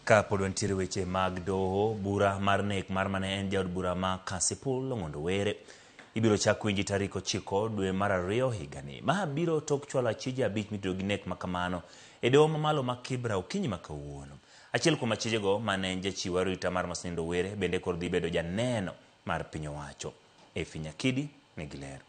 Ka pod wantiere weche mag doho, bura mar nek mar mane en jaod bura ma Kasipul Ong'ondo Were ibiro chak winji tarik ochiko dwe mar ariyo higani. Ma biro tok chwalo achije abich mitudo gi nek makamano e doho mamalo ma Kibra okinyi ma kawuono. Achiel kuom achijego mane en jachiw arita mar Masenindo Were bende koro dhi bedo janeno mar piny owacho. Efi Nyakidi nigi ler.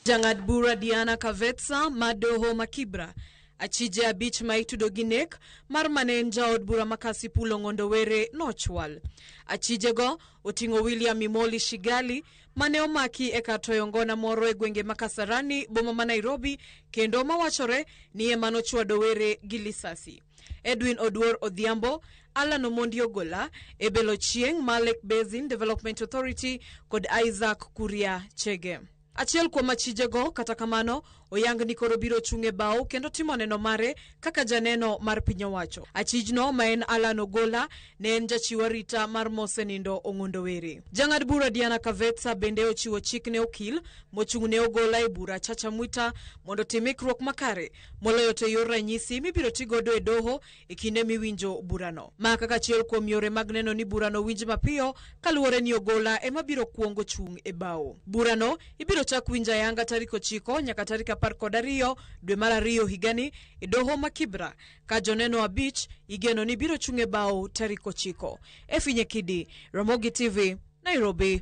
Jang'ad bura Diana Kavetsa ma doho ma Kibra, achije abich ma itudo gi nek mar mane en jaod bura ma Kasipul Ong'ondo Were nochwal. Achijego oting'o William Imoli Shigali mane omaki e kar toyo ngona moro e gwenge ma Kasarani boma ma Nairobi kendo mawachore ni ema nochwado Were gi lisasi. Edwin Oduor Odhiambo, Allan Omondi Ogola, Ebelo Chieng ma Lake Basin Development Authority kod Isaac Kuria Chege. Achiel kuom achijego kata kamano oyang ni koro biro chung' e bao kendo timo neno mare kaka janeno mar piny owacho. Achijno ma en Allan Ogola ne en jachiw arita mar mosenindo Ong'ondo Were. Jang'ad bura Diana Kavetsa bende ochiwo chik ne okil mochung' ne Ogola e bura Chacha Mwita mondo otim ikruok makare moloyo to e yor ranyisi mibiro ti godo e doho e kinde miwinjo burano. Ma kaka achiel kuom yore mag neno ni burano winj mapiyo kaluwore ni ogola ema biro kwongo chung' e bao. Burano ibiro chak winjo ayanga tarik ochiko nyaka tarik apar kod ariyo dwe mar ariyo higani e doho ma Kibra ka joneno abich igeno ni biro chung' e bao tarik ochiko. Efinye Kidi, Ramogi TV, Nairobi.